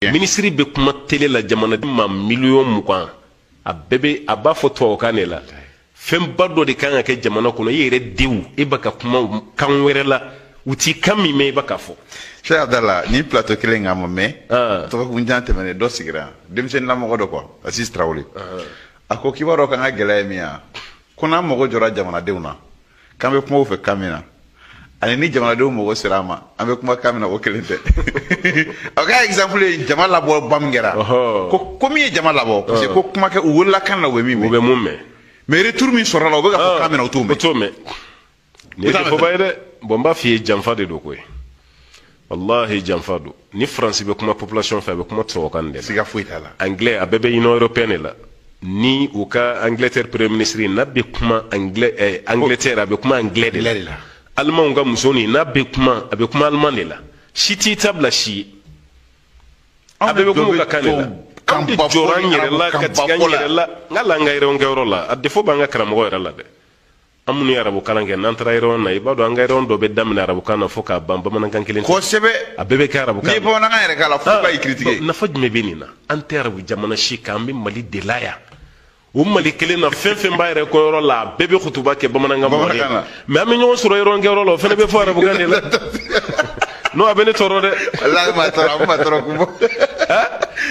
minisiri bɛ kuma tele la jamanaden maa miliyɔn mugan a bɛɛ bɛ a b'a fɔ tubabukan de la fɛnba dɔ de kan ka kɛ jamana kɔnɔ i yɛrɛ denw e bɛ ka kuma kan wɛrɛ la u tɛ kan min mɛn i bɛ k'a fɔ. sɛki abdala n ye plateau kelen kan mɛn. Ah. dɔgɔkun jan tɛmɛnen dɔ sigira denmisɛnninlamɔgɔ dɔ ko azizi tarawele ah. a ko k'i b'a dɔn k'an ka gɛlɛya ye min ye ko n'an mago jɔra jamanadenw na. k'an bɛ kuma u fɛ kan min na ani ni jamanadenw mago sera an ma an bɛ kuma kan min na k'o kelen tɛ a ka exemple ye jama labɔba min kɛra ko ko min ye jama labɔ parce que ko kuma kɛ u wolola kan na u bɛ min mɛn u bɛ min mɛn mais retour min sɔrɔla u bɛ ka fɔ kan min na u t'o mɛn u t'o mɛn nin ye koba ye dɛ bɔn n b'a f'i ye janfa de don koyi wallahi janfa don ni faransi bɛ kuma population fɛ a bɛ kuma tubabukan de la siga foyi t'a la anglais a bɛɛ bɛ union européenne de la ni u ka angleterre premier ministre n'a bɛ kuma anglais eh, angleterre a bɛ kuma anglais de la alimanw ka muso nin n'a bɛ kuma a bɛ kuma aliman de la si t'i ta bila si ye a bɛɛ bɛ kuma u ka kan de la an de jɔra an yɛrɛ la ka tigɛ an yɛrɛ la n ka la an ka réunion kɛyɔrɔ la a défaut b'an ka karamɔgɔ yɛrɛ la dɛ an minnu ye arabu kalan kɛ n'an taara réunion na i b'a dɔn an ka réunion dɔ bɛ daminɛ arabu kan na fo k'a ban bamanankan kelen kosɛbɛ a bɛɛ bɛ kɛ arabu kan n'i bamanankan yɛrɛ k'a la fo ka i critiquer nafa jumɛn bɛ nin na an tɛ arabu jamana si kan an bɛ mali de la yan o mali kelen na fɛn fɛn b'a réunion kɛyɔrɔ la a bɛɛ bɛ kutuba kɛ bamanankan mɔgɔ ye mais an bɛ ɲɔgɔn sɔrɔ réunion kɛyɔrɔ la o fana bɛ fɔ arabukan de la non a bɛ ne tɔɔrɔ dɛ walahi maa tɔɔrɔ a bɛ maa tɔɔrɔ kun bɔ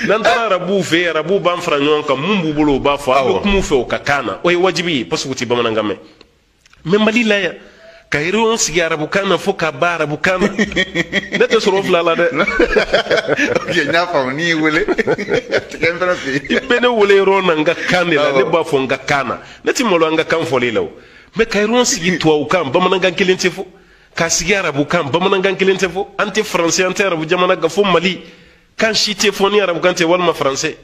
n'an taara arabuw fɛ yen arabuw b'an fara ɲɔgɔn kan mun b'u bolo u b'a fɔ a bɛ kuma u fɛ u ka kan na o ye wajibi ye parce que u tɛ bamanankan mɛn mais mali la yan ka réunion sigi arabukan na fo k'a ban arabukan na ne tɛ sɔrɔ fila la dɛ ok n y'a faamu n'i y'i wele tigɛ n fana fɛ yen i bɛ ne wele réunion na n ka kan de la ne b'a fɔ n ka kan na ne tɛ malo an ka kan fɔli la o mais ka réunion sigi tubabukan bamanankan kelen tɛ fɔ k'a sigi arabukan bamanankan kelen tɛ fɔ an tɛ faransɛ an tɛ arabu jamana k'a fɔ mali kan si tɛ fɔ ni arabukan tɛ walima faransɛ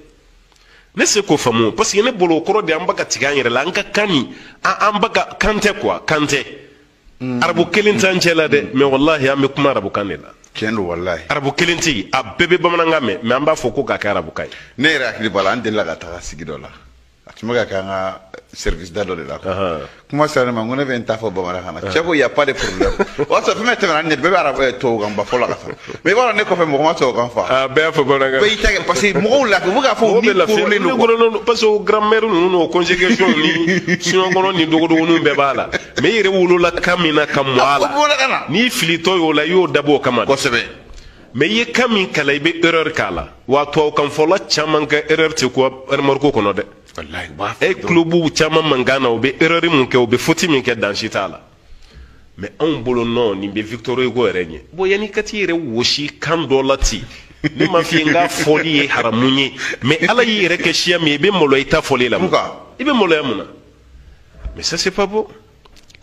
ne se k'o faamu parce que ne bolo o kɔrɔ de an bɛ ka tigɛ an yɛrɛ la an ka kan nin an b'a kɛ kan tɛ quoi kan tɛ mm. arabu kelen t'an cɛ la dɛ mais walahi an bɛ kuma arabukan de la tiɲɛ don walahi arabu kelen tɛ yen a bɛɛ bɛ bamanankan mɛn mais an b'a fɔ ko k'a kɛ arabukan ye ne yɛrɛ hakili b'a la an delila ka taga sigi dɔ la a tun bɛ ka kɛ an ka service da dɔ de la kuma sera ne ma n ko ne bɛ n ta fɔ bamanankan na cɛ ko y a pas de problème o y'a sɔrɔ fɛn fɛn tɛmɛna ne bɛɛ bɛ arabu eh, tubabukan ba fɔ la ka taa mais i b'a dɔn ne kɔfɛ mɔgɔ ma tubabukan fɔ a bɛɛ y'a fɔ bamanankan bɛɛ y'i ta kɛ parce que mɔgɔw lafi u bɛ k'a fɔ u ni korolen don quoi parce que grammaire ninnu n'o conjugaison ni suɲɔkɔnɔ ni dogodogoninw bɛɛ b'a la mais i yɛrɛ wolola kan min na ka mɔ a la n'i filitɔ y'o la i y'o dabɔ o kama kosɛbɛ mais i ye kan min kalan i bɛ erreur k'a la wa tubabukanfɔla caman ka erreur tɛ kun remorque kɔnɔ dɛ e tulo b'u caman mankan na u bɛ erreur min kɛ u bɛ foti min kɛ dan si t'a la mais anw bolo nɔ nin bɛ victor hugo yɛrɛ ɲɛ bon yanni ka t'i yɛrɛ wɔsi kan dɔ la ten ne ma f'i ye k'a fɔli ye haramu ye mais ala y'i yɛrɛ kɛ siya min ye i bɛ maloya i ta fɔli la i bɛ maloya mun na mais ça c'est pas bon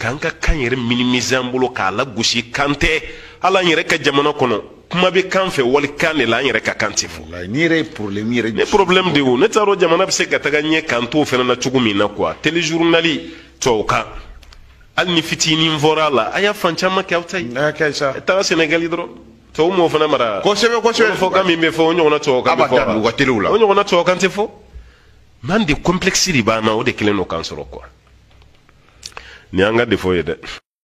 k'an ka kan yɛrɛ minimiser an bolo k'a lagosi kan tɛ hali an yɛrɛ ka jamana kɔnɔ kuma bɛ k'an fɛ walikan de la an yɛrɛ ka kan tɛ fɔ nin yɛrɛ ye problème yɛrɛ ne problème de o ne t'a dɔn jamana bɛ se ka taga ɲɛ k'an t'o fana na cogo min na quoi téléjournali tubabukan hali ni fitinin fɔra a la a y'a fan caman kɛ aw ta ye taga sɛnɛgali dɔrɔn tubabu m'o fana mara kosɛbɛ kosɛbɛ fɔ kan min bɛ fɔ o ɲɔgɔnna tubabukan bɛ fɔ o ɲɔgɔnna tubabukan tɛ fɔ mais an de kɔnplɛkisi de b'an na o de kɛlen don k'an sɔrɔ quoi nin y'an ka défaut ye dɛ